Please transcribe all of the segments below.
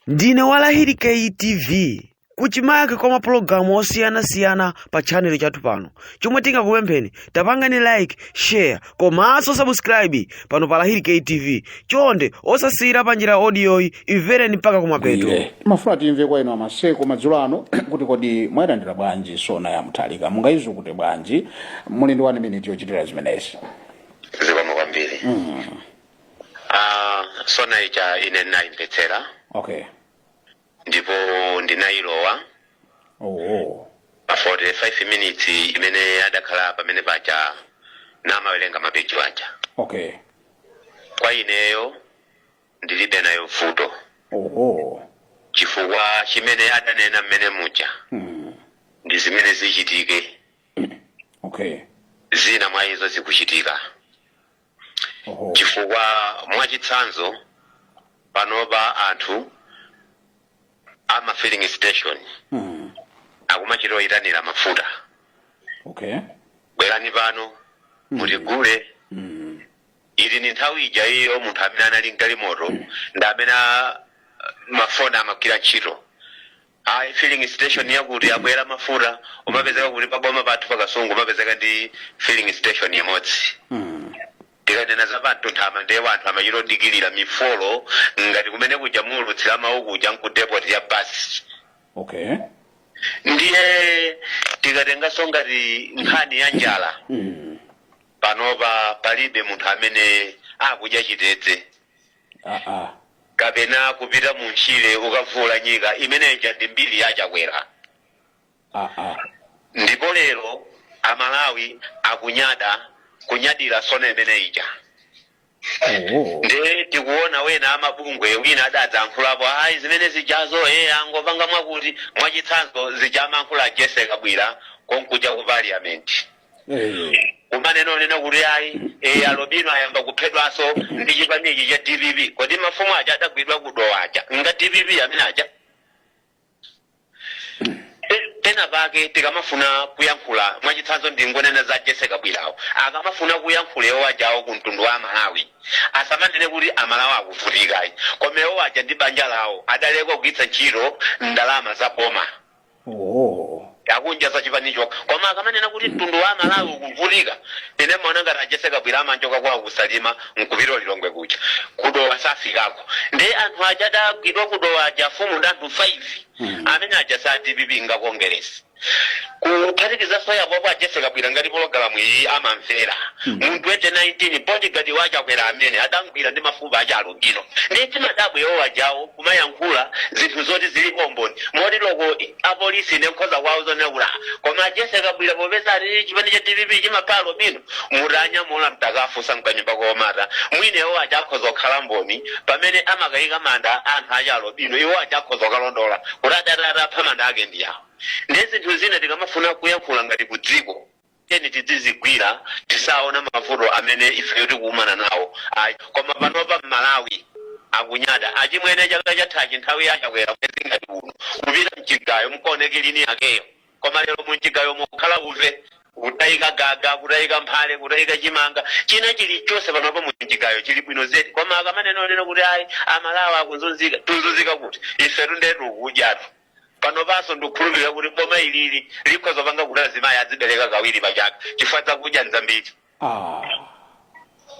ndine wa lahiri ktv kuchimake kwa mapulogalamu osiyanasiyana pa chanelo chathu pano chomwe tingakupempheni tapangani like share komanso subscribe pano pa lahiri ktv chonde osasiyira pa njira odiyoyi imvereni mpaka kumapeto timafuna timve kwa inu amaseko madzulo ano kuti kodi mwayilandira bwanji sona ya mutharika mungayizukute bwanji muli ndi wani miniti yochitira zimenezi zikomo kwambiri Ah, sona ija ine ndinayimvetsera okay ndipo ndinayilowa oh pa 45 minutes imene adakhala pamene paja namawerenga mapeji aja okay kwa ineyo ndilibe nayo vuto oh chifukwa chimene adanena mmene muja mm. ndi zimene zichitike okay zina mwa izo zikuchitika Oho. chifukwa mwachitsanzo panopa anthu ama filling station Mm. akumachita oyitanira mafuta Okay. bwerani pano mutigule Mm. ili ni nthawi ija iyo munthu amene anali mgalimoto ndi amene a- mafoni amagwira ntchito Ayi filling station yakuti abwera mafuta umapezeka kuti pa boma pathu pa Kasungu umapezeka ndi filling station imodzi. tikanena za pa mtunthama ndiye wanthu amachita odikilira mifolo ngati kumene kuja muulutsira mawu kuja nkudepoti ya basi okay ndiye tikatenganso ngati nkhani ya njala panopa palibe munthu amene akudya chitedze aa. kapena kupita mu ntchire ukavuula nyika imene ija ndi mbiri ya chakwera aa. ndipo lero amalawi akunyada kunyadira sona imene ija oo. nde tikuona wena amabungwe wina adadzankhulapo ayi zimene zijazo e angopanga mwakuti mwachitsanzo zija amankhula jessie kabwila konkuja ku parliament kumanena onena kuti ayi eh, alobino ayamba kuphedwanso ndi chipani ichi cha dpp kodi mafumu aja adagwidwa kudowa aja nga dpp amene aja Pe- pena pake tikamafuna kuyankhula mwachitsanzo ndingonena za jessie kabwilawo akamafuna kuyankhula iwo ajawo ku mtundu wa malawi asamanene kuti amalawi akuvutikayi koma iwo aja ndi banja lawo adaleka kugwiritsa ntchito ndalama za boma Oh. akudya za chipanicho koma akamanena kuti mtundu wa amalawi ukuvutika ine mmaona ngati a jessie kabwila amachoka kwawo kusalima nkupita ulilongwe kuja kudowa safikako ndi anthu aja adagwidwa kudowa aja afumu ndi anthu 5 amene aja sa dpp ngakongeresi kuphatikizaso apopo a jessie kabwila ngati pologalamu iyi amamvera mu 2019 bodyguard wachakwera amene adamgwira ndi mafupa aja alubino ndi timadabwa iwo ajawo kumayankhula zinthu zoti zilipo umboni moti loko apolisi ine nkhoza kuwauza onena kuti "Ah, koma Jessie Kabwila popeza ati chipani cha DPP chimapha alobino mutanyamula mtakafunsa mkanyumba komata mwina iwo aja akhoza kukhala mboni pamene amakayika manda anthu aja alobino iwo aja akhoza kukalondola kuti adatatapha manda ake ndi awo ndi zinthu zina tikamafuna kuyankhula ngati ku dziko tiyeni tidzizigwira tisaona mavuto amene ifeyo tikukumana nawo ayi koma panopa mmalawi akunyada achimwene chaka chathachi nthawi ya chakwera mwezi ngati uno kupita mchigayo mkaoneke lini yakeyo koma lero mumchigayo mukhala uve kutayika gaga kutayika mphale kutayika chimanga china chilichonse panopa mumchigayo chili bwino zedi koma akamanena onena kuti ayi amalawi akuzunzika tuzunzika kuti ifetu ndetu kudyatu panopanso ndikhulupirira kuti boma ilili likhoza panga kuti azimayi azibereka kawiri pa chaka chifukwa zakudya nzambiri ah.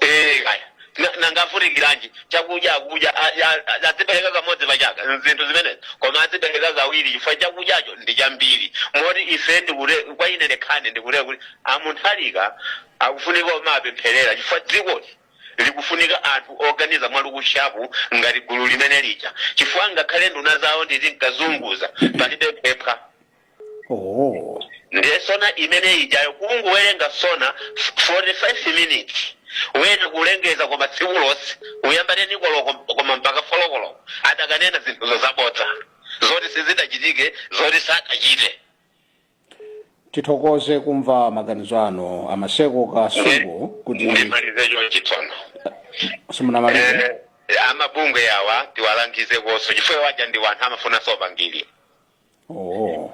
Eh, kaya Na- nangafunikiranji chakudya akudya a- a- a- azibereka kamodzi pa chaka zinthu zimenezi koma azibereka kawiri chifukwa chakudyacho ndi chambiri moti ife ndikule kwa ine ndekhane ndikule kuti a Mutharika akufunika omapempherera chifukwa dzikoli likufunika anthu oganiza mwa look sharp ngati gulu limeneli ija chifukwa ngakhale nduna zawo nditinkazunguza palibe phepha oh. ndiye SONA imene ijayo kungowerenga SONA 45 minutes wena kulengeza koma tsiku lonse uyambane 9 koloko koma mpaka folo koloko adakanena zinthuzo zabodza zoti sizidachitike zoti sadachite tithokoze kumva maganizo anu a Maseko Kasungu kuti ndimalize chonchi tsono simunamalize Eh, amabungwe awa tiwalangize konso chifukwa waja ndi anthu amafuna zopangira oh.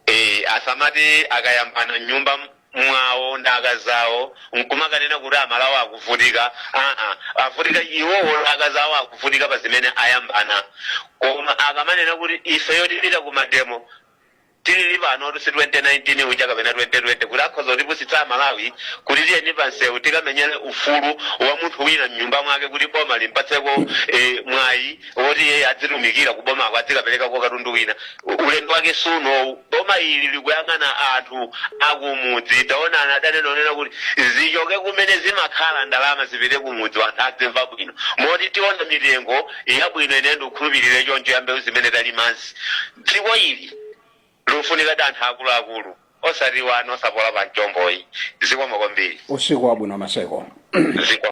Eh, asamati akayambana mnyumba mwawo ndi akazawo nkumakanena kuti amalawi akuvutika aa avutika iwowo ndi akazawo akuvutika pa zimene ayambana koma akamanena kuti ifeyo tipita ku mademo Tili panotu si 2019 uja kapena 2020 kuti akhoza kutipusitsa a Malawi kuti tiyeni pa msewu tikamenyere ufulu wa munthu wina mnyumba mwake kuti boma limpatseko eh, mwayi woti iye adzitumikira ku bomako adzikaperekako katundu wina. U- Ulendo wake si unowu. Boma ili likuyang'ana anthu akumudzi taonani adanena onena kuti zichoke kumene zimakhala ndalama zipite kumudzi anthu adzimva bwino moti tiona mitengo yabwino ine ndikhulupirire choncho ya mbewu zimene talimazi Dziko ili likufunikadi anthu akulu akulu osati wana osapola pa mchombo ayi. Zikomo kwambiri. Usiku wabwino Maseko. Zikomo.